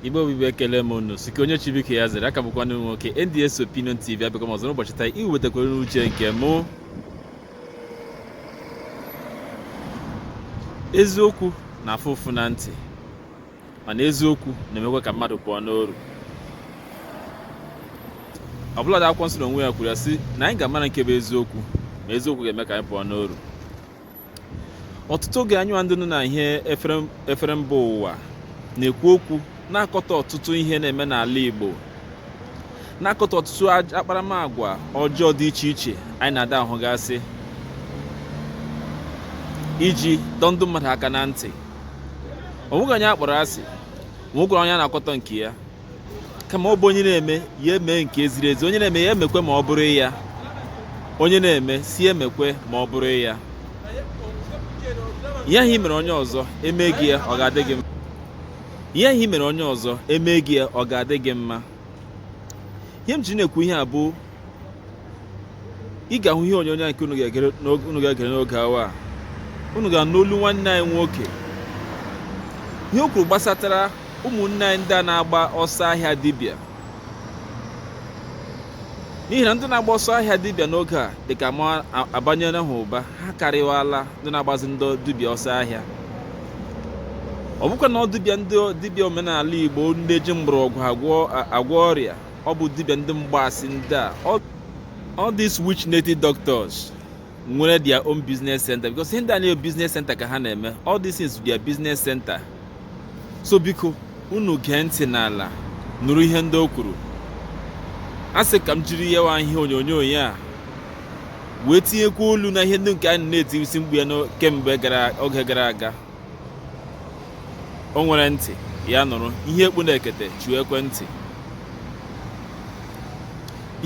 igbo bụ igbo ekele m unu sike onye chibike ya zere aka bụkwa nwoke nds opinion tv abịakwa m ọzọ n'ụbọchị taa iwetakwara unu uche nke mụ eziokwu na-afụ ụfụ na ntị mana eziokwu na-emekwa ka mmadụ pụọ n'oru ọbụladị akwụkwọ nsọ n'onwe ya kwuru ya sị na anyị ga-amara nke bụ eziokwu ma eziokwu ga-eme ka anyị pụọ n'oru ọtụtụ oge anyịnwa ndị nọ na ihe efere mba ụwa na-ekwu okwu na-akọta ọtụtụ ihe na-eme n'ala Igbo na-akọta ọtụtụ akparamagwa ọjọọ dị iche iche anyị na-ada ahụgasị iji dọọ ndị mmadụ aka na ntị o nweghị onye a kpọrọ asị o nwekwara onye a na-akọtọ nke ya kama ọ bụ onye na-eme ya emee nke ziri ezi onye na-eme ya emekwe ma ọ bụrụ ya onye na-eme sị ya emekwe ma ọ bụrụ ya ihe ahụ i mere onye ọzọ eme gị ya ọ ga-adị gị mma ihe ahụ i mere onye ọzọ eme gị ya ọ ga-adị gị mma ihe m ji na-ekwu ihe a bụ ị ga-ahụ ihe onyonyo a nke unu ga-egere n'oge- unu ga-egere n'oge awa a unu ga-anụ olu nwanne anyị nwoke ihe o kwuru gbasatara ụmụnne anyị ndị a na-agba ọsọ ahịa dibịa n'ihi na ndị na-agba ọsọ ahịa dibịa n'oge a dị ka ma a- abanyela ha ụba ha karịwala ndị na-agbazi ndị dibịa ọsọ ahịa ọ bụkwa na ọ dibịa ndị dibịa omenala igbo ndị ji mgbọrọgwụ agwọ a- agwọ ọrịa ọ bụ dibịa ndị mgbaasị ndị a all these witch native doctors nwere their own business center because ihe ndị a niile business center ka ha na-eme all these things their business center so biko unu gee ntị n'ala nụrụ ihe ndị o kwuru a sị ka m jiri yawa ihe onyonyo ya a wee tinyekwa olu na ihe ndị nke anyị na-etisi mkpu ya kemgbe oge gara aga o nwere ntị ya nụrụ ihe e kpu n'ekete chiwe ekwentị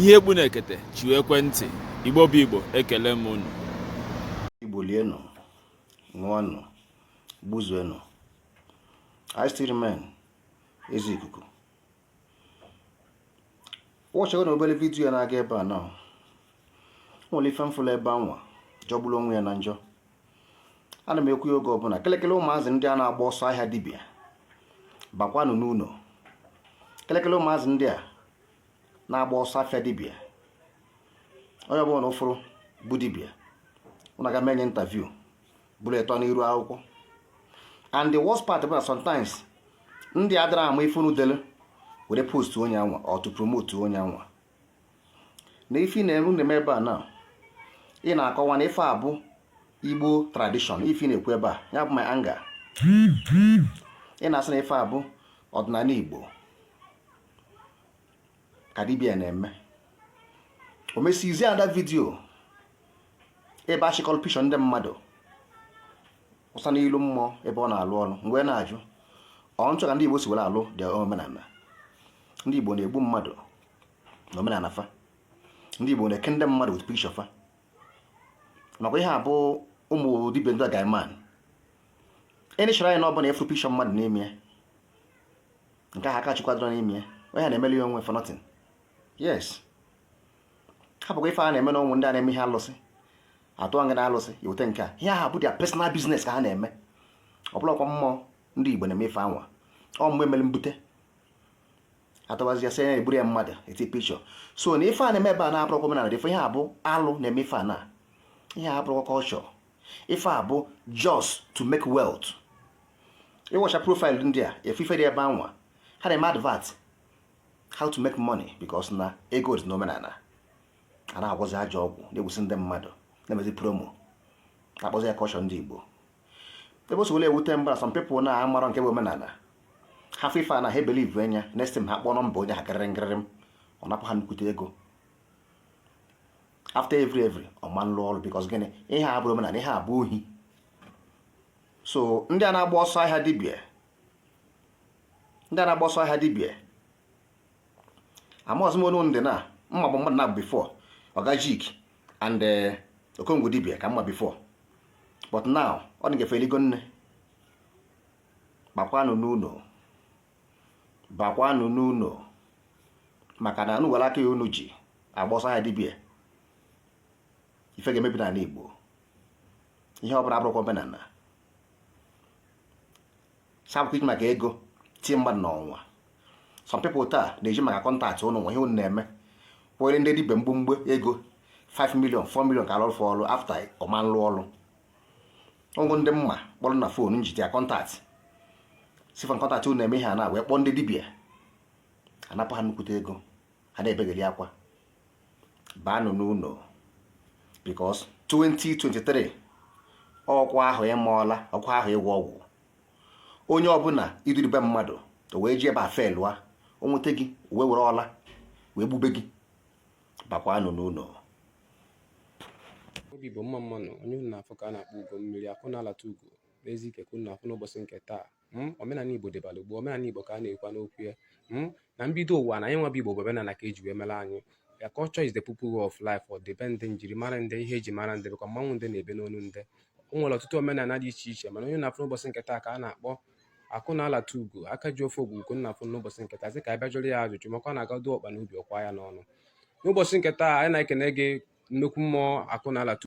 ihe e kpu n'ekete chiwe ekwentị igbo bụ igbo ekele m unu igbo lienụ ṅụọnụ gbuzuenụ I still remain eze ikuku watchịgonụ obele video a na-aga ebe a na nwere ife m fụlụ ebe anwa jọgbulu onwe ya na njọ ana m ekwu ya oge ọbụna kelekele ụmụazị ndị a na-agba ọsọ ahịa dibịa bakwanụ n'ụnọ kelekele ụmụazị ndị a na-agba ọsọ afịa dibịa onye ọbụna unu fụrụ bụ dibịa unu aga menye interview bụrụ ịtọ n'iru akwụkwọ and the worst part bụ na sometimes ndị adịrọ ama ife unu dere were post onye anwa or to promote onye anwa na ife na-eme unu eme ebe a na ị na-akọwa na ife a bụ igbo tradition ife m na-ekwu ebe a ya bụ my anger ị na-asị na ife a bụ ọdịnala igbo ka dibia na-eme o mesizie that video ebe ọ chịkọrọ picture ndị mmadụ wụsa n'ilu mmụọ ebe ọ na-alụ ọrụ m wee na-ajụ ọ nchọ ka ndị Igbo si were alụ dị omenala ndị Igbo na-egbu mmadụ na omenala fa ndị Igbo na-eke ndị mmadụ with picture fa nakwa ihe a bụ ụmụ dibia ndị guy man any shrine ọbụla ị fụrụ picture mmadụ n'ime ya nke ahụ aka chukwadoro n'ime ya onye na-emeli ya onwe for nothing yes hapụkwa ife a na-eme na ụmụ ndị a na-eme ihe alụsị atụ nga na alụsị ya weta nke a ihe ahụ bụ their personal business ka ha na-eme ọ bụrọkwa mmụọ ndị Igbo na-eme ife anwa ọ mgbe mere mbute atọbazi ya sị ya eburu ya mmadụ eti picture so na ife a na-eme ebe a na abụrọkwa omenala dị ife ihe a bụ alụ na-eme ife a na ihe a abụrọkwa culture ife a bụ just to make wealth ị watch profile ndị a ị fụ ife dị ebe anwa ha na-eme advert how to make money because na ego dị n'omenala a na-agwọzi ajọ ọgwụ na-egbusi ndị mmadụ na-emezi promo na-akpọzi ya culture ndị Igbo ebe o si wele ewute m bụ na some people na-amarọ nke bụ omenala ha fụ ife a na ha ebelieve ya next time ha kpọọ nọmba onye ahụ gịrịrị gịrịrịm ọ napụ ha nnukwute ego after every every ọ ma nlụ ọrụ because gịnị ihe a abụrọ omenala ihe a bụ ohi so ndị a na-agba ọsọ ahịa dibia ndị a na-agba ọsọ ahịa dibia amaghịzi m onye ndị na mma bụ mmadụ na before ọgajik and eh, okongwu dibia ka m ma before but now ọ dị ka fa eligo nne bakwanụ n'ụlọ bakwanụ n'ụlọ maka na unu were aka a unu ji agba ọsọ ahịa dibia ife ga-emebi n'ala Igbo ihe ọ bụla abụrọkwa omenala sapụkwa iji maka ego tie mmadụ n'ọnwa some people taa na-eji maka contact ụnụ na ihe ụnụ na-eme kwere ndị dibia mgbomgbo ego 5 million 4 million ka a lụọ ọrụ after ọ ma nlụ ọrụ ọgwụ ndị m ma kpọrọ na phone njite ya contact sifon contact unu na-eme ihe a na wee kpọọ ndị dibịa anapụ ha nnukwute ego ha na-ebegheli akwa baanụ n'ụlọ because 2023 ọ kwa ahọ ịma ọla ọ kwa ahọ ịgwọ ọgwụ onye ọbụla ị duribe mmadụ o wee jebe a felụa o nweta gị wee were ọla wee gbube gị bakwanụ n'ụlọ obi bụ mma mmanwụ onye unu na-afụ ka a na-akpọ ugo mmiri akụ na-alata ugo n'ezi ike ka unu na-afụ n'ụbọchị nke taa hmm? omenala igbo dịbara gboo omenala igbo ka a na-ekwu n'okwu ya hmm? na mbido ụwa na anyị nwa bụ igbo bụ omenala ka eji wee mara anyị ya culture is the people way of life ọdịbendị njirimara ndị ihe eji mara ndị bụkwa mmanwụ ndị na-ebe n'onu ndị o nwere ọtụtụ omenala dị iche iche mana onye na-afụ n'ụbọchị nke taa ka a na-akpọ akụ na alata ugo aka ji ofe ogwu ugo unu na-afụ n'ụbọchị nke taa sị ka a bịa jụrụ ya ajụjụ maka ọ na-agado ọkpa n'obi ọ kwaa ya n'ọnụ n'ụbọchị nke taa anyị na-ekene gị nnukwu mmụọ akụ na alata